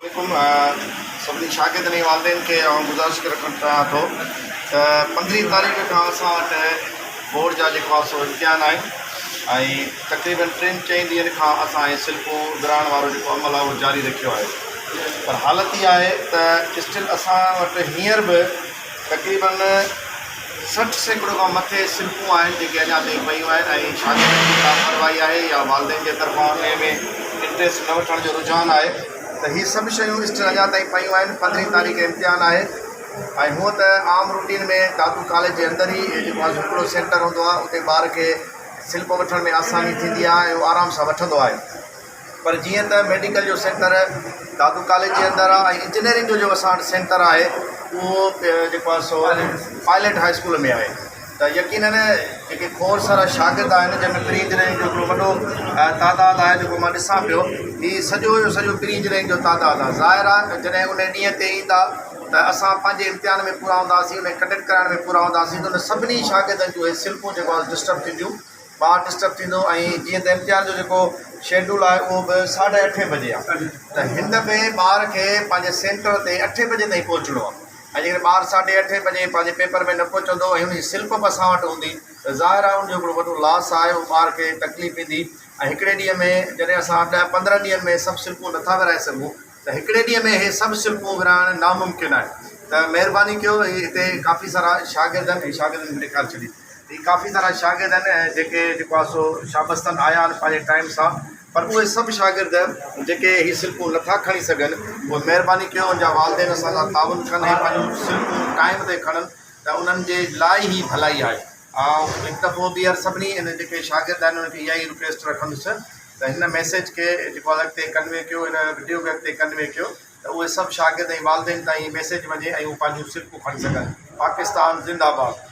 حڪم سڀني شاگردن ۽ والدين کي آئون گذارش ڪري رکڻ چاهيان ٿو ته پندرهين تاريخ کان اسان وٽ بورڊ جا جيڪو آهي سو امتحان آهن ۽ تقريبن ٽن چئن ڏينهن کان اسان هي سلپون ورهائڻ وارو جيڪو عمل آهي اهو جاري رکيو آهي پر حالت اها آهي ته اسٽل اسان وٽ هينئر به تقريبن سٺ سيڪڙو کان مٿي سنفون آهن جيڪي اڃا تائين پيون آهن ۽ شاگردن جي لاپرواهي آهي يا والدين جي طرفان انهيء ۾ انٽريسٽ نه وٺڻ جو رجحان آهي ته هي سڀ شيون اسٽر اڃا تائين پيون آهن پندرهين تاريخ امتحان آهي ۽ هونء ته عام روٽين ۾ دادو ڪاليج جي اندر ئي جيڪو آهي سو هڪڙو سينٽر هوندو آهي اتي ٻار کي سلپ وٺڻ ۾ آساني ٿيندي آهي ۽ هو آرام سان وٺندو آهي. پر جيئن ته ميڊيڪل جو سينٽر دادو ڪاليج جي اندر آهي ۽ انجنيئرنگ جو جو اسان وٽ سينٽر آهي اهو جيڪو آهي سو پائليٽ هاء اسڪول ۾ آهي ته يقينن جيڪي کورس وارا شاگرد آهن جنهن ۾ پري انجنيئرنگ جو هڪڙو وڏو تعداد آهي جيڪو مان ڏسان پيو هي سڄو جو سڄو پري انجنيئرنگ جو تعداد آهي ظاهر آهي جڏهن ان ڏينهن تي ايندا ته اسان پنهنجي امتحان ۾ پورا هونداسين ان کي ڪنڊڪٽ ڪرائڻ ۾ پورا هونداسين ته ان سڀني شاگردن جون اهي سلپون جيڪو آهي ڊسٽرب ٿينديون ٻار ڊسٽرب ٿيندو ۽ جيئن ته امتحان جو جيڪو شيڊول آهي اهو به ساڍي اٺين بجي آهي ته هن ۾ ٻار کي پنهنجي سينٽر تي اٺين بجي تائين پهچڻو آهي ۽ جيڪڏهن ٻار ساڍي اٺين بجي پنهنجي پيپر ۾ نه پهچندو ۽ ان جي سلپ به اسان وٽ هوندي ته ظاهر آهي ان جو هڪڙو وڏو لاس آهي اهو ٻار کي تڪليف ڏيندي ۽ هڪڙي ڏينهن ۾ جڏهن اسان ڏهه پندرهن ڏينهن ۾ سڀ سلپون نٿا ورهائي سگهون ته هڪڙي ڏينهن ۾ اهي سڀ سلپون ورهائڻ ناممڪن آهي ته مهرباني ڪيو هي هتي ڪافي سارا شاگرد آهن ۽ شاگردن کي ڏيکار ڇڏي هي ڪافي سارا شاگرد آهن ۽ جيڪي جيڪو آهي سو شابس تن آيا آهن پنهنجي ٽائيم سان پر اهي سڀ شاگرد جيڪي هي سلپون نٿا کڻي سگهن اهي مهرباني ڪيو ان جا والدين اسان سان تعاون ڪن ۽ پنهنجون سلپون ٽائيم تي کڻن ته انهن جي لاء هي ڀلائي آهي آئون هڪ دفعو ٻيهر سڀني ان جيڪي شاگرد آهن انهن کي اها ئي رڪويسٽ رکندس ته هن ميسيج کي جيڪو الڳ تي ڪنوي ڪيو هن وڊيو کي اڳتي ڪنوي ڪيو ته اهي سڀ شاگرد ۽ والدين تائين هي ميسيج وڃي ۽ هو پنهنجون سلڪون کڻي سگهن پاڪستان زنده باد.